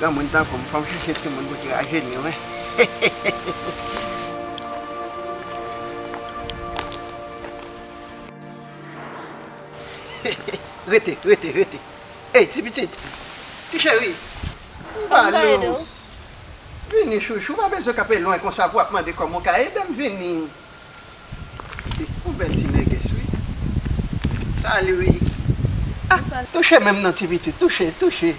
Granmoun tankou m fò m chèche timoun pou ki rajeni wi. Rete, rete, rete. Ey ti pitit. Ti cheri. M ba lou. Vini chouchou, m pa bezwen kanpe lwen konsa pou w ap mande kòman w ka ede m vini. Ou bèl ti nègès wi. Salut wi. Ah touche menm non ti pitit touche touche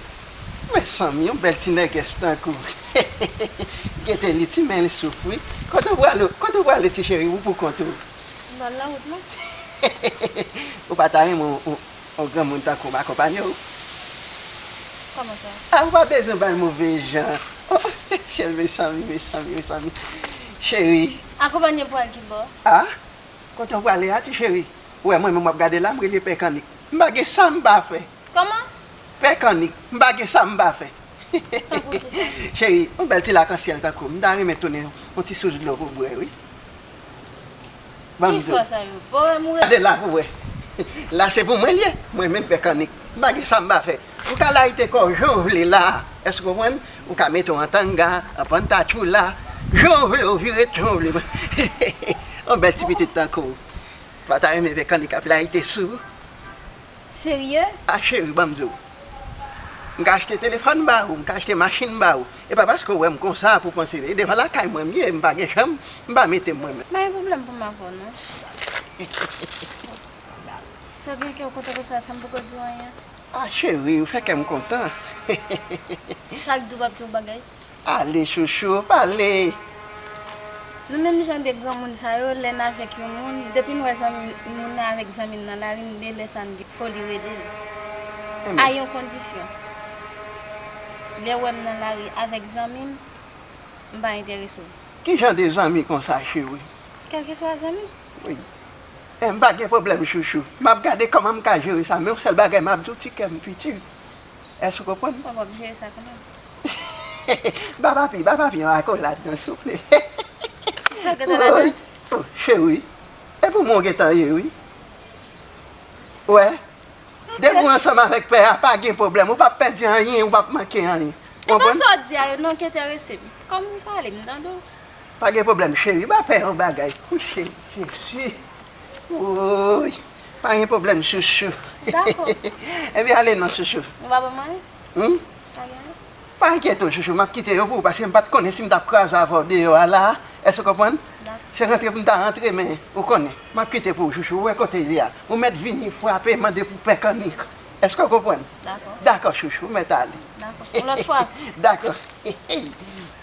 mesanmi yon bèl ti nègès tankou hehehehe gete li ti men li souf wi kote ou prale kote ou prale ti cheri ou pou kont ou mbal nan wout la hehehehe ou pa ta renmen yon granmoun tankou m akonpanye w kòman sa ah ou pa bezwen bay move jan oh syel mesanmi mesanmi mesanmi cheri. Akonpanye m pral ki bò? A, Kote w prale a ti cheri? Ou wè mwen menm w ap gade la m rele pè kannik. M pa gen sa m pa fè. Kòman? Pè kannik, m pa gen sa m pa fè. Tankou ki sa? Cheri, yon bèl ti lakansyèl tankou w m ta renmen tounen yon ti sous dlo pou w bwè wi. Ban m zo. Ki swa sa yo? Bon wè m rele. Gade la pou w wè. La se pou mwen l ye, mwen menm pè kannik. M pa gen sa m pa fè. Ou ka layite kòw jan w vle la, èske w konprann? Ou ka mete w an tanga, an pantatchoula, jan w vle, ou vire jan w vle. Yon bèl ti pitit tankou w pa ta renmen vè kannik ap layite sou ou? Serye? A cheri, ban m di w. M ka achte telefòn ba ou, m ka achte machin ba ou. E pa paske w wè m konsa pou w panse e devan lakay mwen m ye, m pa gen chanm, m pa mete m mwen menm. M pa gen pwoblèm pou m avè w non. Sa w gen kè w kontan konsa, sa m poko di w anyen? Ah chérie ou fè kèm kontan hehehehe. Sak diw pap di yon bagay. Ale chouchou pale. Nou menm jan de granmoun sa yo lè n avèk yon moun depi n wè zanmi moun nan avèk zanmi l nan lari n delè sa n gen foli rele l a yon kondisyon lè w wè m nan lari avèk zanmi m m pa enterese w. Kijan de zanmi konsa cheri? Kèlkeswa zanmi. M pa gen pwoblèm chouchou. M ap gade kòman m ka jere sa men yon sèl bagay m ap di w ti kè m piti. Èske w konprann? Bon, w ap jere sa kòman? Ba papi, ba papi yon akolad non souple. Ki sa w gen tan ladan l? O, cheri, e pou mwen w gen tan ye wi. Ou wè? Depi w ansanm avèk pè a, pa gen pwoblèm. Ou p ap pèdi anyen, ou p ap manke anyen. Ou konprann? E pa sa w di a yo non ki enterese m. Kòm ou pale, m tande w. Pa gen pwoblèm cheri map fè yon bagay pou cheri jezi wouyy pa gen pwoblèm chouchou ebyen ale non chouchou ou pa pran manje humm pa enkyete w chouchou map kite yo pou ou paske m pat konnen si m tap kraze avèw deyò a la èske w konprann se rantre pou m ta rantre men ou konnen map kite pou ou chouchou ou wè kote l ye a ou mèt vini frape mande pou pè kannik èske w konprann dakò chouchou ou mèt ale yon lòt fwa dakò.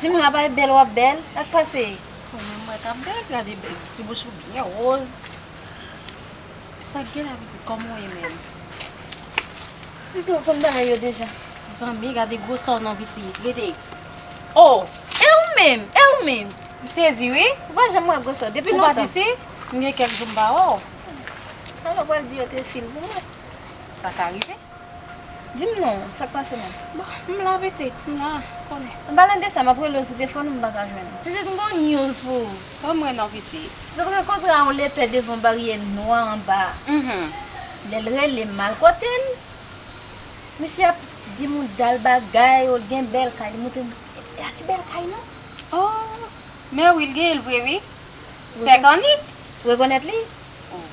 Ti moun apa e bel wap bel sak pase. Bon men mwen kap bel gade ti bouch ou byen roz. Sak gen la pitit koman ou ye menm. Pitit ou konn bagay yo deja. Zanmi gade gwosor non pitit rete oh e ou menm e ou menm. M sezi wi ou pa janm wè gwosor depi lontan. Ou pat isi? M gen kèk jou m pa wè w. Sa yo pral di yo te fin pou mwen. Sa ka rive. Di m non, sa k pase menm? Bon, m la pitit, m la, ou konnen. An palan de sa, m ap rele w sou tefòn ou m pa ka jwenn ou. Pitit, m gon news pou ou. Pa mwen non, pitit. M sot rankontre a yon lepè devan baryè nwa anba a. Lè l rele m al kote l, misye ap di m yon dal bagay, o l gen bèl kay. Li montre m, e pa ti bèl kay non. O, mèwi, l genyen l vre wi. Pè Kanik, rekonèt li, Oh.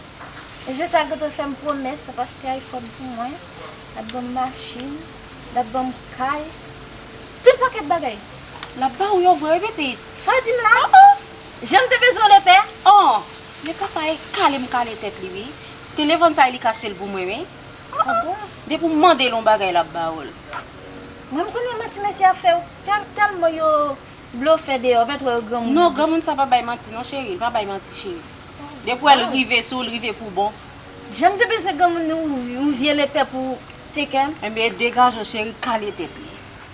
E se sa ki te fè m pwomès l ap achte iPhone pou mwen, l ap ban m machin, l ap ban m kay, tout pakèt bagay. L ap ba ou yo vre wi pitit? Sa w di m la? Oh oh! Jan m te bezwen w Lepè! Oh! Lepè sa e kale m kale tèt li wi. Telefòn sa e li k achte l pou mwen wi. Oh oh! Depi w mande l yon bagay l ap ba ou l. Mwen m konnen manti mesye a fè w, tèlman yo Blofè deyò ou pèt wè yo granmoun. Non granmoun sa pa bay manti non cheri li pa bay manti cheri depi wèl rive sou ou li rive pou bon. Janm te bezwen granmoun ni yon vye lepè pou tekem. Ebyen degaje w cheri kale tèt li.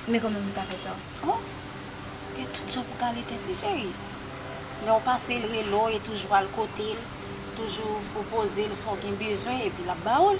Men kòman m ta fè sa. Oh gen tout jan pou kale tèt li cheri lè ou pase l rele w e toujou al kote l toujou pwopoze l sa w gen bezwen epi lap ba ou l.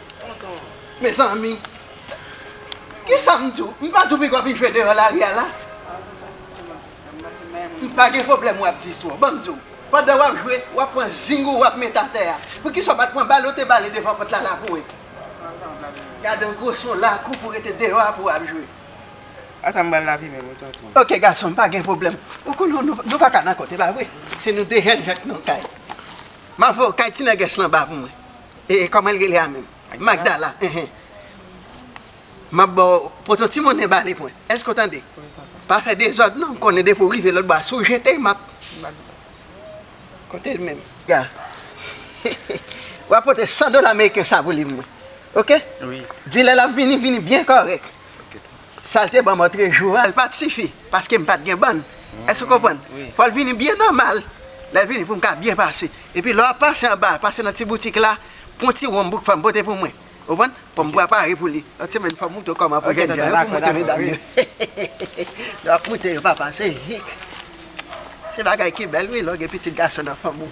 Mezanmi! Kisa m di w? M pa di w piga w vin jwe deyò lari a la? M pa gen pwoblèm w ap di sa w. Ban m di w, pandan w ap jwe, w ap pran zing ou w ap mete atè a. Poukisa w pa t pran bal ou te bale devan pòt la laboure? Gade yon gwo son lakou pou w rete deyò a pou w ap jwe. A sa m bal lavi menm wi tonton? Ok gason m, pa gen pwoblèm. Ou konnen w nou pa ka nan kont, e pa vre? Se nou de jèn jank nan kay. M ap voye w kay ti nègès lan ba pou mwen. E kòman l rele a menm? Magdala, enhen. M ap ba w poto ti monnen ba li pwen. Èske w tande? Wi, papa. Pa fè dezòd non, m konnen depi w rive lòtbò a, si w jete m ap. Magda. Kote l menm? Ga. W ap pote san dola meriken sa pou li pou mwen. Oke? Wi. Di lè l ap vini, vini byen kòrèk. Oke, papa. Sal te banm antre jou al pat sifi paskem pat gen bann èske ou konprann fòl vini byen nòmal lèl vini poum ka byen pase epi lè wap pase anba pase nan ti boutik la pwan ti wonm bouk fèm pote pou mwen ou konprann poum prepare pou li lòt semèn fòm moute kòman pou jènjan yo pou moute medam yo hehehehe lè wap moute yo papa se hik. Se bagay ki bèl wi lè w gen pitit gason nan fanm ou.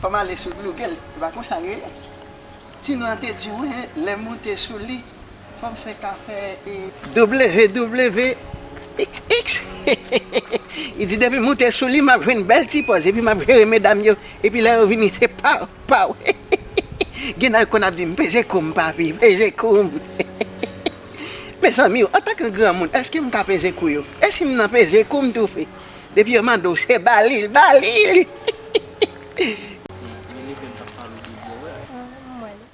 Fò m ale sou Google, se pa konsa l rele? Ti nou an te di mwen lè m monte sou li. Fòm fè ka fè e. WWXXX Li di depi moute sou li map jwenn bèl ti pòz epi map jere medam yo epi lè yo vini se paw paw Gen nèg konn ap di m peze koum papi peze koum Mezanmi antan ke granmoun eske m ka peze kou yo e si m nan peze kou m toufe depi yo mande w se ba li l ba li l.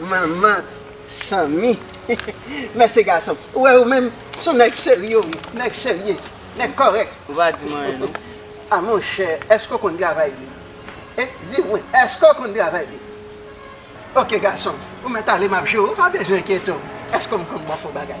Manman sanmi men se gason ou wè ou menm son nèg serye wi nèg serye nèg kòrèk ou pa di mwen anyen non a monchè èske ou konn travay wi e di mwen èske ou konn travay wi ok gasonm ou mèt ale map jere ou pa bezwen enkyete w èske ou konn bon fo bagay.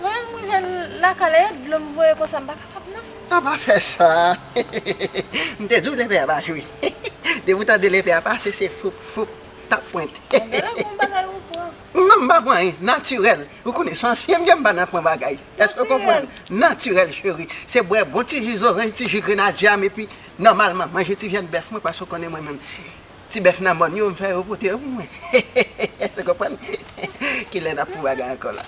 Voyem rive lakay la e dlo m voye konsa m pa kapab nan. A pa fè sa M te di w lepè a pa jwe Depi w tande lepè a pase se foup foup tap pwent Bon gade gon bagay ou pran Non m pa pran anyen natirèl Ou konnen san ansyen m ye m pa nan pran bagay Èske w konprann Natirèl cheri Se bwè bon ti ji zoranj ti ji grenadyè a m epi nòmalman manje ti vyann bèf mwen paske w konnen mwen menm Ti bèf nan mòn yo m fè yo pote yo pou mwen ou konprann kilè nap fon bagay ankò la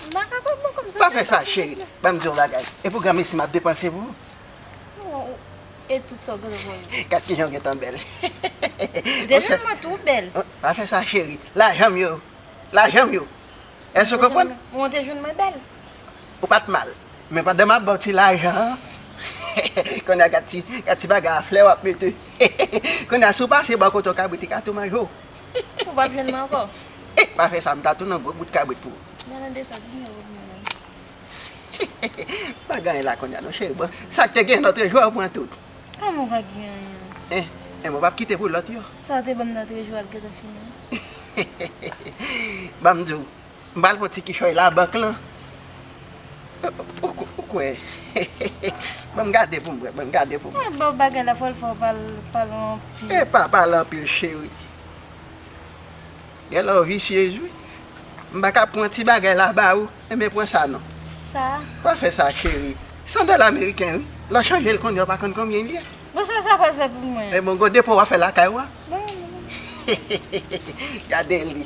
pa fè sa cheri banm diw yon bagay e pou granmesi map depanse pou ou gad kijan ou gentan bèl pa fè sa cheri lajanm yo lajanm yo èske ou konprann Ou pat mal. Men pandan map baw ti lajan an hehe kounye a gad ti bagay a flè wap mete hehehe kounye a si w pase bò kote yon kabrit li ka tou manje w hihihi Ou pap jwenn mwen ankò Eeh pa fè sa m ta tou nan gwo bout kabrit pou ou Nan nan desa di mwen revni w menm hihihi Pa gen anyen la kounye a non cheri bon sak te gen lotre jou a ou pran tout Kòman ou pa gen anyen Eeh men ou pap kite pou lòt yo Sa ou te banm lotre jou a ap gentan fini hihihi Banm di w. M pral pran ti kichòy labank lan ou kwè banm gade poum wè banm gade poum wè. Mwen baw bagay la fòl fè w pale anpil. Epa pale anpil cheri. Genlè ou visyez wi. M paka pran ti bagay la ba ou enben pran sa non. Sa? Pa fè sa cheri. San dola meriken wi. Lè w chanje l kounye w pa konn konbyen l ye. Bon sa sa pral fè pou mwen? Ebon gwo depo wap fè lakay ou a. Bon. Gade li.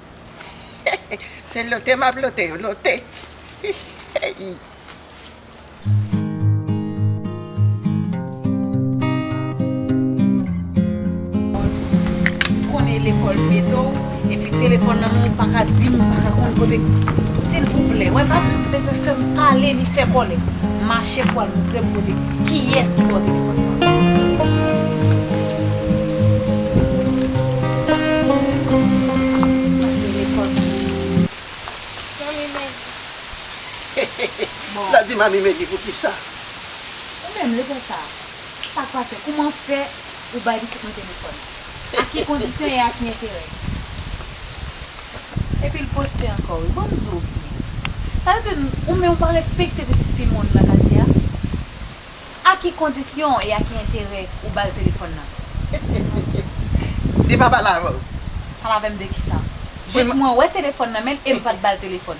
Se lote m ap lote yo, lote. M konnen lekòl mete w epi telefòn nan men w pa ka di m pa ka konn kote. Silvouplè, wè m ap bezwen fè m pale li fè kòlè. Mache pou al montre m kote. Kiyes ki bò telefòn sa. La di mami megi poukisa. Ou menm leve sa a sak pase kouman fè ou bay pitit mwen telefòn a ki kondisyon e a ki enterè. Epil poste ankò wi bon zo w ye sa vle di ou menm ou pa respekte pitit fi moun nan katye a a ki kondisyon e a ki enterè ou bal telefòn nan. Li pa pale avèw? Pale avèm de kisa? Jis mwen wè telefòn nan menl em pat bal telefòn.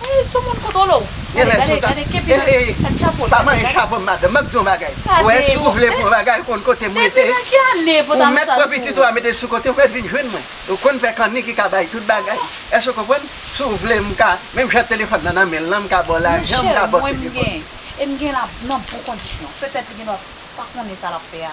Eey sou moun kout olo. Gade gade gade kepi nan nan chapol. Pa manyen chapom madanm map diw yon bagay ou wè si ou vle pou yon bagay ou konn kotem rete ou mèt pran pitit ou a metel sou kote ou mèt vin jwenn mwen ou konn pè kanni ki ka bay tout bagay èske ou konprann si ou vle mka menm jan telefòn nan nan menl lan mka baw lajan mka baw telefòn. Monchè mwen mgen e mgen la nan bon kondisyon petèt li gendwa pa konnen sa lap fè a.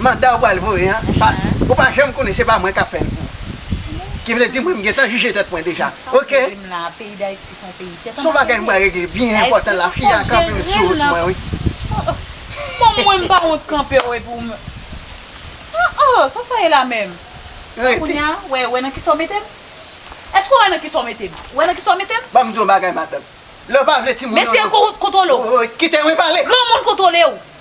Manda ou pral voye an pa ou pa janm konnen se pa mwen kap fèl pou ou ki vle di mwen m gentan jije tèt mwen deja ok son bagay m pral regle byen enpòtan la fi a kanpe m sou wout mwen wi banm di w yon bagay madanm lè ou pa vle timoun yo kite mwen pale.